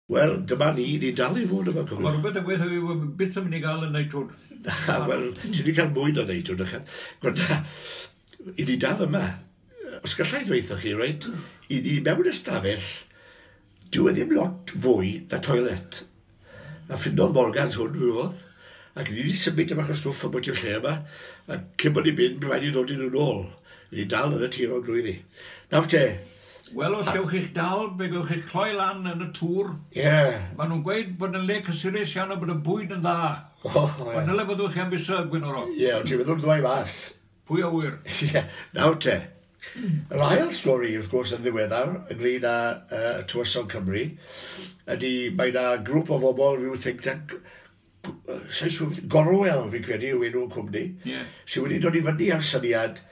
Wel, dyma ni, ni'n dal i fod yma, cofiwch. Mae rhywbeth ddigwydd heddiw, fi ddim byth yn mynd i gael y neitwn. Na, wel, ti wedi cael mwy na neitwn, ychan. Gwrta, i ni dal yma. Os gallai ddweithio chi, reit, i ni mewn ystafell, dyw e ddim lot fwy na toilet. A ffindodd Morgans hwn, fi oedd, ac ni wedi symud yma chos stwff am bwyt i'r lle yma, a cyn bod ni'n mynd, rhaid i ddod i'n ôl. Ni dal yn y tir o'n glwyddi. Nawr te, Wel, os gewch chi'ch dal, fe gewch chi'ch cloi lan yn y tŵr. Ie. Maen nhw'n gweud bod yn le cysurus iawn a bod y bwyd yn dda. O, ie. Ond dyle fyddwch chi am fisa, Gwenoro. Ie, ond ti fyddw'n ddwy fas. Pwy a ŵyr? Ie, nawr te. Yr ail stori, wrth gwrs, yn ddiweddar, ynglyn â uh, Tywysog Cymru, ydy mae yna grŵp o bobl, rhyw think tank, sa'n siŵr, Gorwel, fi'n credu, yw enw'r cwmni, yeah. sydd wedi dod i fyny ar syniad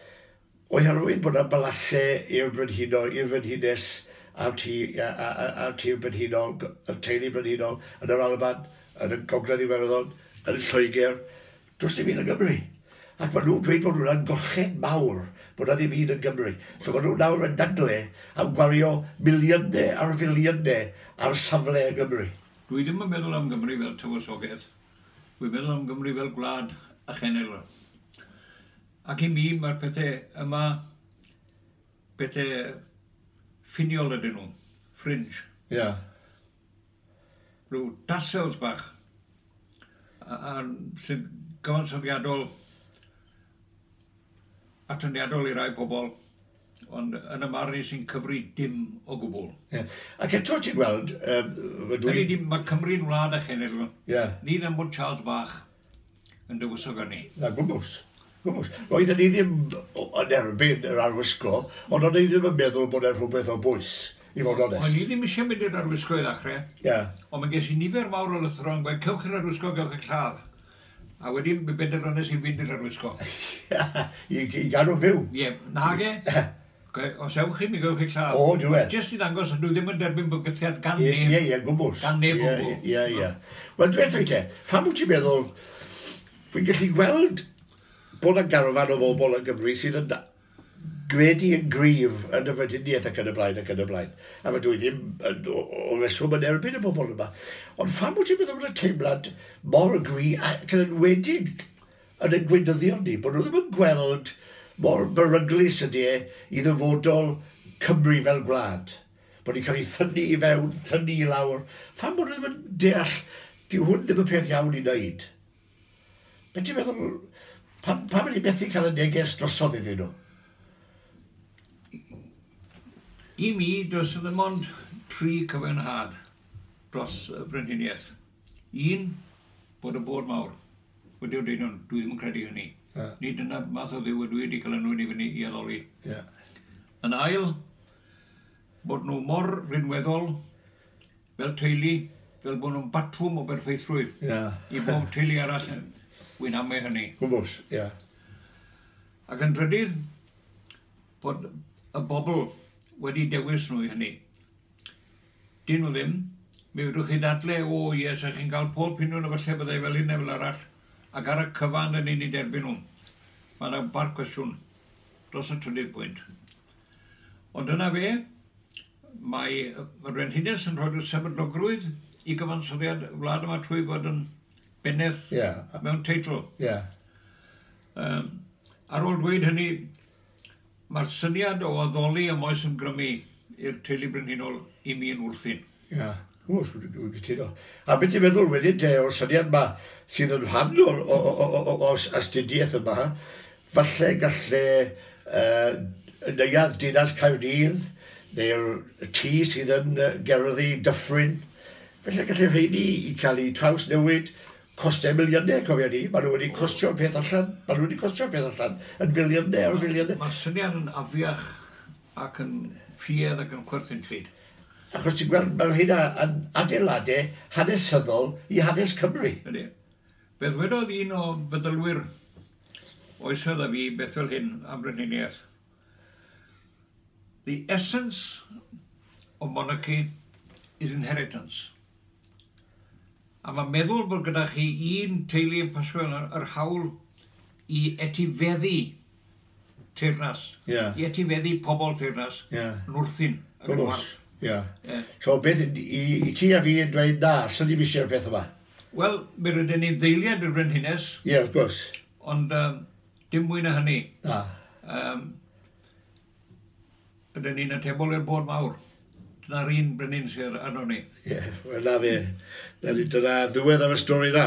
Oherwydd bod 'na balasê i'r brenhino, i'r frenhines, a'r tŷ, a'r tŷ brenhinol, y teulu brenhinol, yn yr Alban, yn y Gogledd Iwerddon, yn Lloegr, does dim un yng Nghymru. Ac maen nhw'n dweud bod hwnna'n golchedd mawr, bod 'na ddim un yn Gymru. So maen nhw nawr yn dadle am gwario miliynau ar filiynau ar safle yng Nghymru. Dwi ddim yn meddwl am Gymru fel tywysoges, dwi'n meddwl am Gymru fel gwlad a chenedl. Ac i mi, mae'r pethe yma, pethe ffiniol ydyn nhw, fringe. Ia. Rhyw tassels bach, a, a sy'n gyfansoddiadol, atyniadol i rai pobl, ond yn y marn i sy'n cyfri dim o gwbl. Ia. Ac eto ti'n gweld, yy, dwi... Ydy, mae Cymru'n wlad a chenedl. Ia. Ni ddim ond Charles Bach. yn dywysog arni. Na, gwmws. Gwmws. Roedden ni ddim yn erbyn yr arwisgo, ond o'n i ddim yn meddwl bod e'n rhywbeth o bwys, i fod onest. O'n i ddim eisiau mynd i'r arwisgo i ddechrau. Ie. Yeah. Ond mae ges i nifer mawr o lythro yn gweud, cewch i'r arwisgo, gewch i'r lladd. A wedyn, mi benderfynais i fynd i'r arwisgo. I, i gadw fyw. Ie, yeah. nage. Os ewch chi, mi gewch chi lladd. O, dwi weld. Jyst i ddangos fod nhw ddim yn derbyn bygythiad gan neb. Ie, ie, ie, gwbl. Gan neb o gwbl. Ie, ie, ie. Wel, dwi eithaf i te, pham wyt ti'n meddwl, fi'n gallu gweld bod y garfan o fobl yn Gymru sydd yn gredu yn gryf yn y frediniaeth ac yn y blaen ac yn y blaen. A fe dwi ddim yn, o, o reswm yn erbyn y bobl yma. Ond pham wyt ti'n meddwl bod y teimlad mor gry ac yn enwedig yn ein gweinyddion ni, bod nhw ddim yn gweld mor beryglus ydy e i ddyfodol Cymru fel gwlad. Bod ni'n cael ei thynnu i fewn, thynnu i lawr. Pham bod nhw ddim yn deall, dyw hwn ddim yn peth iawn i wneud. Be ti'n meddwl, pam, pam ydy methu cael y neges drosodd iddyn nhw? I mi, does dim ond tri cyfenhad dros y brenhiniaeth. Un, bod y bôr mawr wedi dweud hwn, dwi ddim yn credu hynny. Yeah. Nid yna math o ddiw y dwi wedi cael enwyn i fyny i addoli. Yeah. Yn ail, bod nhw mor rinweddol fel teulu, fel bod nhw'n batwm o berffeithrwydd yeah. i bob teulu arall. Wy'n amau hynny. Gwmbws, ie. Yeah. Ac yn drydydd, bod y bobl wedi dewis nhw i hynny. Dyn nhw ddim. Mi fedrwch chi ddadle, O, ie, sa chi'n cael pob piniwn efallai byddai fel hyn neu fel arall, ac ar y cyfan rydyn ni'n derbyn nhw. Mae yna bar cwestiwn dros y trydydd pwynt. Ond dyna fe, mae y Brenhines yn rhoi'r sefydlogrwydd i gyfansoddiad y wlad yma trwy fod yn bennaeth yeah. mewn teitl. Yeah. Um, ar ôl dweud hynny, Mae'r syniad o addoli am oes ymgrymu i'r teulu brenhinol i mi yn wrthun. Ia, o, sw- dw- dwi'n cytuno. A be' ti'n meddwl wedyn te o'r syniad 'ma sydd yn rhan o'r o- o- o- o- o'r s- astudiaeth yma, falle galle yy y neuadd dinas Caerdydd neu'r y tŷ sydd yn yy gerddi Dyffryn, falle galle rheini i ca'l 'u trawsnewid Costau miliynau, cofia ni, maen nhw wedi costio'r peth allan, maen nhw wedi costio'r peth allan, yn filiynau ar filiynau. Mae'r syniad yn afiach ac yn ffuedd ac yn chwerthin llyd. Achos ti'n gweld, mae'r hynna yn adeiladau hanesyddol i hanes Cymru. Ydy. Fe ddwedodd un o feddylwyr oesoedd a fi beth fel hyn am brenhiniaeth. The essence of monarchy is inheritance. A mae'n meddwl bod gyda chi un teulu yn Paswell yr hawl i etifeddu teyrnas, yeah. i etifeddu pobl teyrnas, yeah. yn wrthyn, yn y gwarth. Yeah. Yeah. So beth i, i ti a fi yn dweud na, sy'n ni eisiau'r peth yma? Wel, mi rydyn ni'n ddeiliad y Frenhines. Ie, yeah, wrth gwrs. Ond um, dim mwy na hynny. Na. Um, Ydyn ni'n atebol i'r bôn mawr? Dyna'r un brenin sydd arnon ni. Ie, wel 'na fe. Nawr ni, dyna ddiwedd ar y stori 'na.